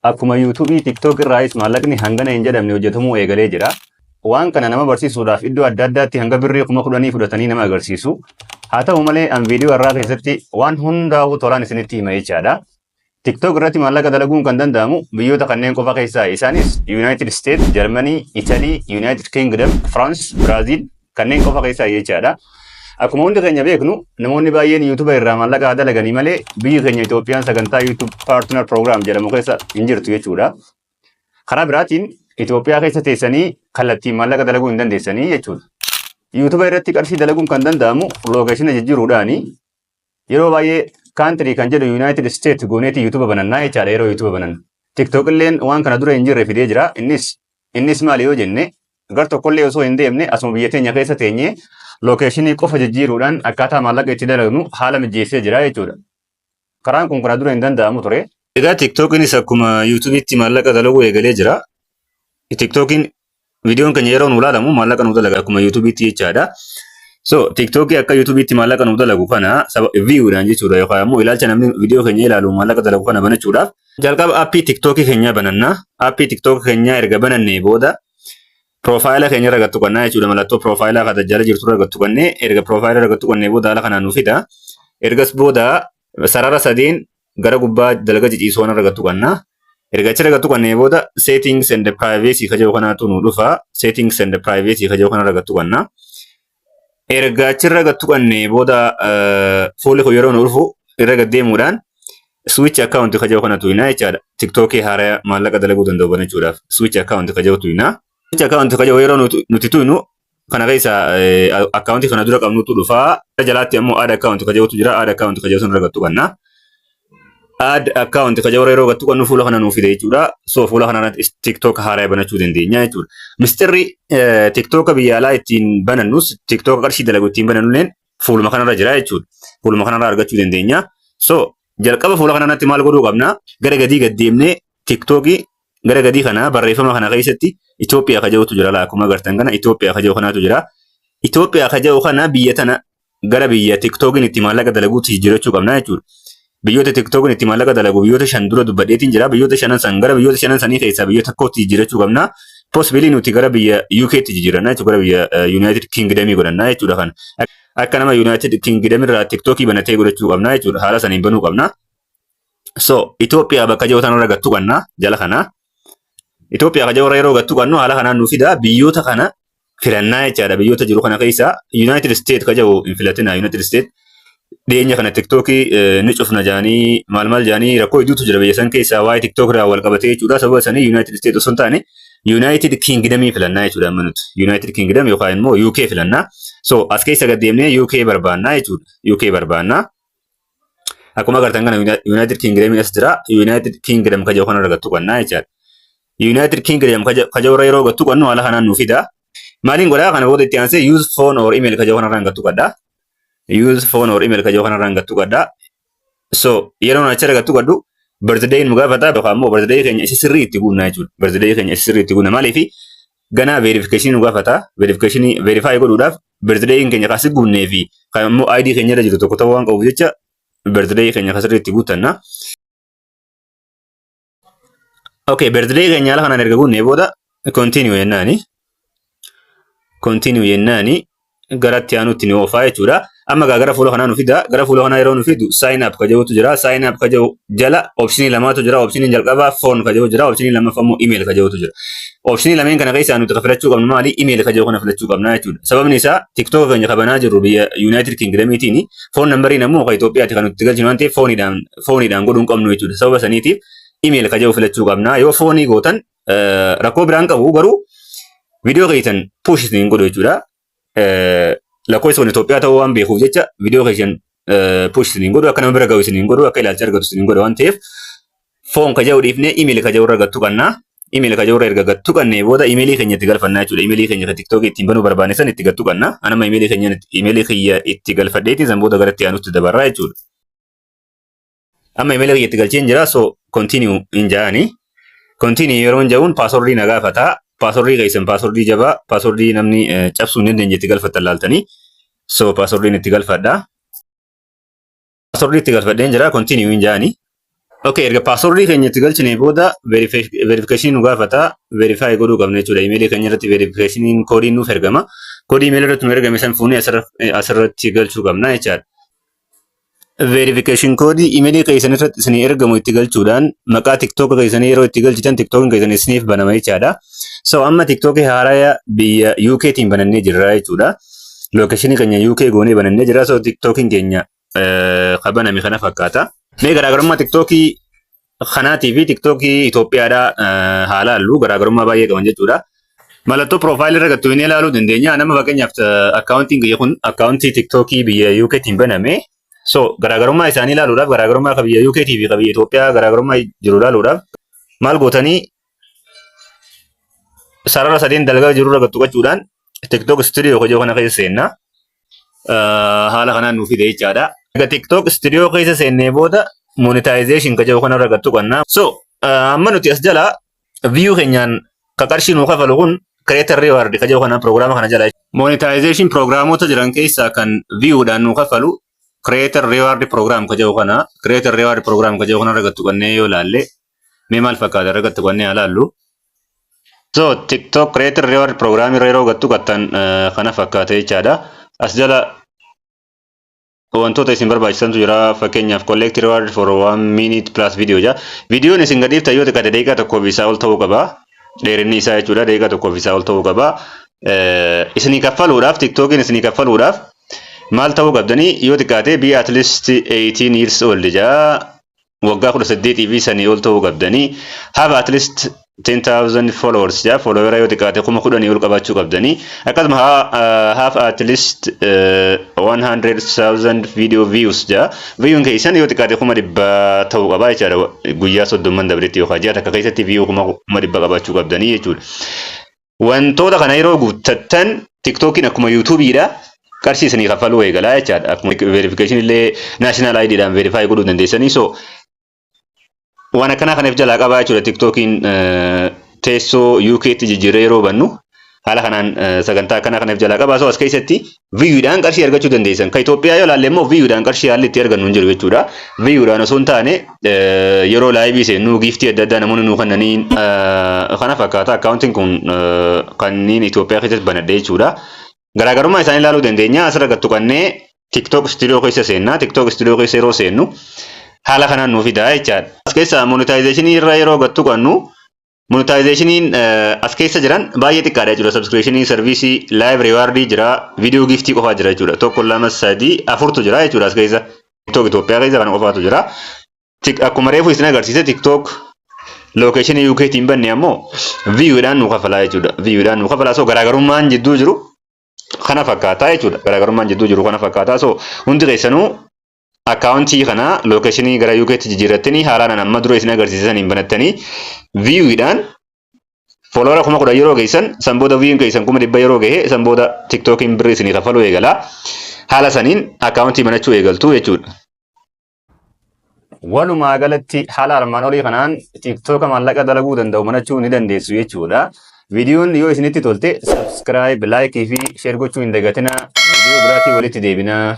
Akkuma YouTube, TikTok irraayis maallaqni hangana hin jedhamne hojjetamuu eegalee jira. Waan kana nama barsiisuudhaaf iddoo adda addaatti hanga birrii kuma kudhanii fudhatanii nama agarsiisu. Haa ta'u malee an viidiyoo har'aa keessatti waan hundaa'uu tolaan isinitti hima jechaadha. TikTok irratti maallaqa dalaguun kan danda'amu biyyoota kanneen qofa keessaa isaanis United States, Germany, Italy, United Kingdom, France, Brazil, kanneen qofa keessaa jechaadha. Akkuma hundi keenya beeknu namoonni baay'een yuutuba irraa maallaqa dalaganii malee biyyi keenya Itoophiyaan sagantaa yuutub paartinar proogiraam jedhamu keessa hin jirtu jechuudha. Karaa biraatiin Itoophiyaa keessa teessanii kallattiin maallaqa dalaguu hin dandeessanii jechuudha. Yuutuba irratti qarshii dalaguun kan danda'amu lookeeshina jijjiiruudhaani. Yeroo baay'ee kaantirii kan jedhu Yuunaayitid Isteet gooneeti yuutuuba banannaa jechaadha yeroo yuutuuba banannu. Tiktook illeen waan kana dura hin jirre fidee jira. Innis innis maali yoo jenne gar tokkollee osoo hin deemne asuma biyya teenya keessa teenyee lookeeshinii qofa jijjiiruudhaan akkaataa maallaqa itti dalagnu haala mijeessee jira jechuudha. Karaan kun kana dura hin danda'amu ture. Egaa TikTokinis akkuma yuutuubiitti maallaqa dalaguu eegalee jira. TikTokiin Viidiyoon keenya yeroo nu ilaalamu maallaqa nu dalaga akkuma yuutuubiitti jechaadha. So tiktookii akka yuutuubiitti maallaqa nu dalagu kana saba viiyuudhaan jechuudha yookaan immoo ilaalcha namni viidiyoo keenya ilaalu maallaqa dalagu kana banachuudhaaf jalqaba appii tiktookii keenyaa bananna. Appii tiktookii keenyaa erga banannee booda piroofaayila keenya irra gattu qannaa jechuudha mallattoo piroofaayilaa kan tajjaala jirtu irra gattu qannee erga piroofaayila irra gattu qannee booda haala kanaan nu fida. Ergas booda sarara sadiin gara gubbaa dalaga ciciisuu kana irra gattu qanna. Erga achirra gattu qannee booda settings and privacy ka jedhu kanaatu nu dhufa. Settings and privacy ka jedhu kana irra gattu qanna. Erga achirra gattu qannee booda eh, fuulli kun yeroo nu dhufu irra gad deemuudhaan switch account ka jedhu kana tuqinaa jechaadha. Tiktookii haaraya maallaqa dalaguu danda'u banachuudhaaf switch account ka jedhu tuqinaa. Switch account ka jedhu yeroo nuti nuti tuqnu kana keessa akkaawuntii kana dura qabnutu dhufa. Gara jalaatti ammoo add account ka jedhutu jira. Add account ka jedhu sun irra gattu qabna. Add account ka jedhu yeroo gattu qabnu fuula kana nuuf fide jechuudha. So fuula kana irratti TikTok haaraa banachuu dandeenya jechuudha. Mistirri TikTok biyya alaa ittiin banannus TikTok qarshii dalagu ittiin banannulleen fuuluma kanarra jira jechuudha. Fuuluma kanarra argachuu dandeenya. So jalqaba fuula kanarratti maal godhuu qabna? Gara gadii gad deemnee TikTokii Gara gadii kana barreeffama kana keessatti Itoophiyaa ka jedhutu jira. Akkuma agartan kana Itoophiyaa ka jedhu kanatu jira. Itoophiyaa ka jedhu kana biyya tana gara biyya tiktookiin itti maallaqa dalaguutti jijjiirachuu qabna jechuudha. Biyyoota tiktookiin itti maallaqa dalagu biyyoota shan dura dubbadheetiin jira. Biyyoota shanan san gara biyyoota shanan sanii keessaa biyya tokkootti jijjiirachuu qabna. Possibly nuti gara biyya UKtti jijjiiranna jechuudha. Gara biyya eh, United Kingdom godhanna jechuudha kana. Akka nama United Kingdom irraa tiktookii banatee godhachuu qabna jechuudha. Haala saniin banuu qabna. So Itoophiyaa bakka jiru tanarra gattu qabna jala kana. Itoophiyaa kan jiru yeroo gattu qabnu haala kanaan nu fida biyyoota kana filannaa jechaadha biyyoota jiru kana keessa Yuunaayitid Isteet kan jiru hin filatina Yuunaayitid Isteet dhiyeenya kana tiktookii ni cufna jaanii maal maal jaanii rakkoo hedduutu jira biyya san keessaa waa'ee tiktook irraa wal qabatee jechuudha sababa sanii Yuunaayitid Isteet osoo hin taane Yuunaayitid Kiingidamii filannaa jechuudha amma nuti Yuunaayitid Kiingidam yookaan immoo UK filannaa so as keessa gad deemnee UK barbaannaa jechuudha UK barbaannaa. Akkuma agartan kana Yuunaayitid Kiingidamiin as jira. Yuunaayitid Kiingidam kaja kana irra gattu qannaa jechaadha. Yuunaayitid Kiingidam kaja irra yeroo gattu qannu haala kanaan nu fida. Maaliin godhaa kana booda itti aansee use phone or email kaja kana irraan gattu qaddaa. Use phone or email kaja kana irraan gattu qaddaa. So yeroo achi irra gattu qaddu birthday nu gaafata yookaan immoo birthday keenya isa sirrii itti guunnaa jechuudha. Birthday keenya isa sirrii itti guunna maaliifi ganaa verification nu gaafata verification verify godhuudhaaf birthday keenya kan si guunnee fi kan immoo ID keenya irra jiru tokko ta'uu waan qabuuf jecha birthday keenya kan sirriitti guuttanna. Okay, birthday keenya haala kanaan erga guunnee booda continue jennaani. Continue jennaani gara itti aanutti ni oofaa jechuudha. Amma egaa gara fuula kanaa nu fida. Gara fuula kanaa yeroo nu fidu sign up ka jedhutu jira. Sign up ka jedhu jala optionii lamatu jira. Optioniin jalqabaa phone ka jedhu jira. Optionii lammaffaa immoo email ka jedhutu jira. Optionii lameen kana keessaa nuti ka filachuu qabnu maali? Email ka jedhu kana filachuu qabna jechuudha. Sababni isaa TikTok keenya ka banaa jirru biyya United Kingdomiitiin phone numberiin ammoo ka Itoophiyaati kan nuti galchinu waan ta'eef fooniidhaan fooniidhaan godhuu hin qabnu jechuudha. Sababa saniitiif email ka jedhu filachuu qabna. Yoo foonii gootan rakkoo biraan qabu garuu viidiyoo keessan push isin hin godhu jechuudha. Lakkoofsa kun Itoophiyaa ta'uu waan beekuuf jecha viidiyoo keessan push isin hin godhu akka nama bira ga'u isin hin godhu akka ilaalcha argatu isin hin godhu waan ta'eef foon ka jedhu dhiifnee imeeli ka jedhu irra gattu qannaa. Imeeli ka jedhu irra erga gattu qannee booda imeelii keenya itti galfannaa jechuudha. Imeelii keenya kan tiktookii ittiin banuu barbaanne san itti gattu qannaa. Anama imeelii keenya imeelii kiyya itti galfadheetiin san booda gara itti aanutti dabarraa jechuudha. Amma email kiyya itti galcheen jira so continue hin jaani. Continue yeroo hin ja'uun paaswordii na gaafata. Paaswordii keessan paaswordii jabaa paaswordii namni eh, cabsuu hin dandeenye itti galfattan laaltanii. So paaswordiin itti galfadha. Paaswordii itti galfadheen jira continue hin jaani. Okay, erga paaswordii keenya itti galchinee booda verification nu gaafata. Verify godhuu qabna jechuudha. Imeelii keenya irratti verification koodiin nuuf ergama. Koodii imeelii irratti nu ergame san fuunee asirra- eh, asirratti galchuu qabna jechaadha. Verification code imeelii keessan irratti isinii ergamu itti galchuudhaan maqaa tiktoka keessanii yeroo itti galchitan tiktokin keessan isiniif banama jechaadha. So amma tiktoki haaraya biyya UK tiin banannee jirra jechuudha. Lookeshinii keenya UK goonee banannee jirra. So tiktokin keenya eh, ka baname kana fakkaata. Mee garaagarummaa tiktokii kanaatii fi tiktookii Itoophiyaadhaa eh, haa laallu garaagarummaa baay'ee qaban jechuudha. Mallattoo piroofaayilii irra gattu hin ilaaluu dandeenya. Nama fakkeenyaaf eh, akkaawuntiin kiyya kun akkaawuntii tiktookii biyya UK tiin baname. So garaagarummaa isaanii ilaaluudhaaf garaagarummaa ka biyya UK tii fi ka biyya Itoophiyaa garaagarummaa jiru ilaaluudhaaf maal gootanii sarara sadiin dalgaa jirurra gad tuqachuudhaan TikTok studio kojoo kana keessa seenna. Ah, Haala kanaan nuuf fide jechaadha. Egaa TikTok studio keessa seennee booda monetization kojoo kanarra gad tuqanna. So ah, amma nuti as jala view keenyaan ka qarshii nuu kafalu kun creator reward kojoo kana prograama kana jala. Monetization programoota jiran keessaa kan viewdhaan nuu kafalu creator reward program kojoo kana creator reward program kojoo kanarra gad tuqannee yoo ilaalle mee maal fakkaata irra gattu kanneen alaallu. So TikTok Creator Reward Program irra yeroo gattu gattan kana fakkaata jechaadha. As jala wantoota isin barbaachisantu jira fakkeenyaaf collect reward for one minute plus video ja viidiyoon isin gadhiiftan yoo xiqqaate daqiiqaa tokkoof isaa ol ta'uu qaba dheerinni isaa jechuudha daqiiqaa tokkoof isaa ol ta'uu qaba isinii kaffaluudhaaf tiktookiin isinii kaffaluudhaaf maal ta'uu qabdanii yoo xiqqaate be at least 18 years old ja waggaa kudha saddeetii fi sanii ol ta'uu qabdanii have at least 10,000 followers jaa followera yoo xiqqaate kuma kudhanii ol qabaachuu qabdanii akkasuma have at least uh, 100,000 video views jaa viewin keessan yoo xiqqaate kuma dhibba ta'uu qabaa jechaadha guyyaa soddomman dabretti yookaan ji'a takka keessatti view kuma dhibba qabaachuu qabdanii jechuudha. Wantoota kana yeroo guuttattan TikTokiin akkuma yuutuubiidha qarshii isinii kaffaluu eegalaa jechaadha. Akkuma verification illee national ID dhaan verify godhuu dandeessanii so waan akkanaa kana if jalaa qabaa jechuudha TikTokiin teessoo UK tti jijjiirree yeroo bannu haala kanaan sagantaa akkanaa kana if jalaa qabaa so as keessatti Viiyuudhaan qarshii argachuu dandeessan. Kan Itoophiyaa yoo ilaalle immoo viiyuudhaan qarshii haalli itti argannu hin jiru jechuudha. Viiyuudhaan osoo hin taane yeroo laayivii seennu giiftii adda addaa namoonni nuu kennaniin kana fakkaata. Akkaawuntiin kun kanneen Itoophiyaa keessatti banadhe jechuudha. Garaagarummaa isaanii ilaaluu dandeenya. Asirra gad tuqannee TikTok Studio keessa seenna. TikTok Studio keessa yeroo seennu haala kanaan nuu fidaa jechaadha. As keessaa monetization irra yeroo gad tuqannu Monetizationiin as keessa jiran baay'ee xiqqaadha jechuudha. Subscriptionii, serviisii, live reward jira, video giftii qofaa jira jechuudha. Tokko lama sadii afurtu jira jechuudha as keessa. TikTok Itoophiyaa keessa kana qofaatu jira. Akkuma reefu isin agarsiise TikTok location UK tiin banne ammoo view dhaan nu kafalaa jechuudha. View dhaan nu kafalaa so garaagarummaan jidduu jiru kana fakkaataa jechuudha. Garaagarummaan jidduu jiru kana fakkaataa so hundi keessanuu akkaawuntii kana lookeeshinii gara UK tti jijjiirrattanii haalaan amma dura isin agarsiise saniin banattanii viiwuudhaan fooloora kuma kudhan yeroo geessan san booda viiyuun keessan kuma dhibba yeroo gahe san booda tiktookiin birrii isinii kafaluu eegala haala saniin akkaawuntii banachuu eegaltu jechuudha. Walumaa galatti haala armaan olii kanaan tiktooka maallaqa dalaguu danda'u banachuu ni dandeessu jechuudha. Viidiyoon yoo isinitti tolte subscribe, like fi share gochuu hin dagatinaa. Viidiyoo biraatiin walitti deebinaa.